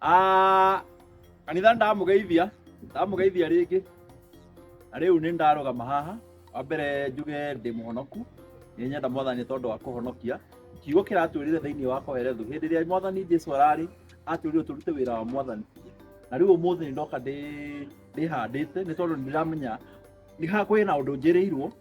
Ah, kanitha ndamugeithia ndamugeithia rĩngĩ na rĩu nĩ ndarũgama haha wa mbere njuge ndĩ mũhonoku nĩ nyenda mwathani tondũ wa kũhonokia kiugo kĩratwĩrire thĩinĩ wa koherethu hĩndĩ ĩrĩa mwathani jesu ararĩ atwĩrire tũrute wĩra wa mwathani na rĩu ũmũthĩ nĩ ndoka ndĩ- ndĩhandĩte nĩ tondũ nĩ ndĩramenya nĩ ha kwĩ na ũndũ njĩrĩirwo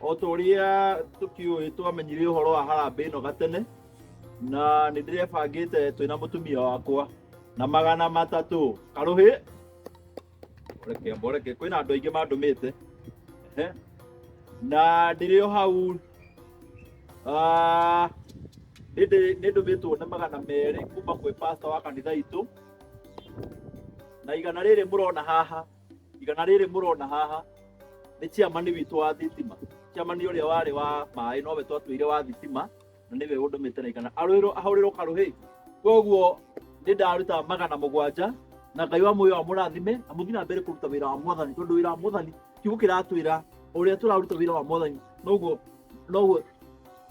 o ta ũrĩa tũkĩũĩ twamenyire ũhoro wa harambĩ ĩno gatene na nĩ ndĩrebangĩte twĩ na mũtumia wakwa na magana matatũ karũhĩ reke mboreke kwĩna andũ aingĩ mandũmĩte Ehe. na ndĩrĩ o hau ah, nĩndĩ- nĩndũmĩtwo nĩ magana merĩ kuma kwĩ pasta wa kanitha itũ na igana rĩrĩ mũrona haha igana rĩrĩ mũrona haha nĩ ciamani witũ wa thitima ciamani ũrĩa warĩ wa maĩ nowe twatwĩire wa thitima na nĩwe ũndũmĩte na igana arwĩrwo ahũrĩrwo karũhĩ koguo nĩ ndaruta magana mũgwanja na ngai wa muoyo amũrathime na mũthiĩ na mbere kũruta wĩra wa mwathani tondũ wĩra wa mwathani kiugo kĩratwĩra ũrĩa tũraruta wĩra wa mwathani noguo noguo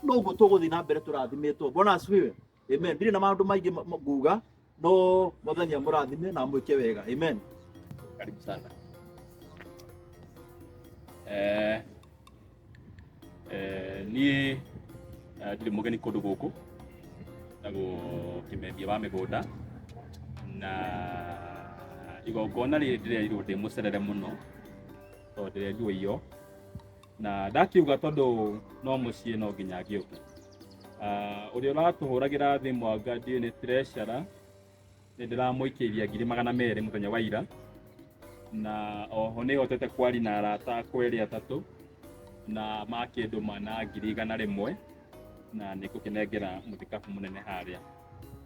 noguo tũgũthiĩ na mbere tũrathimĩtwo bwana asifiwe amen ndirĩ na maũndũ maingĩ ma- ma- nguga no mwathani amũrathime na amwĩke wega amen karibu sana eh, eh, niĩ eh, ndirĩ mũgeni kũndũ gũkũ na gũkĩmendia wa mĩgũnda na igongona rĩrĩ ndĩrerirwo ndĩ mũcerere mũno tondũ ndĩrerirwo iyo na ndakiuga tondũ no mũciĩ no nginya ngĩũke Ah, ũrĩa ũratũhũragĩra thĩ mwanga ndiũĩ nĩ treasure nĩ ndĩramũikĩirie ngiri magana merĩ mũthenya wa ira na oho nĩ hotete kwari na arata akwa erĩ atatũ na makĩndũma na ngiri igana rĩmwe na nĩ ngũkĩnengera mũthikabu mũnene harĩa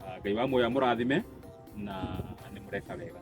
Ah, ngai wa muoyo amũrathime na nĩ mũreka wega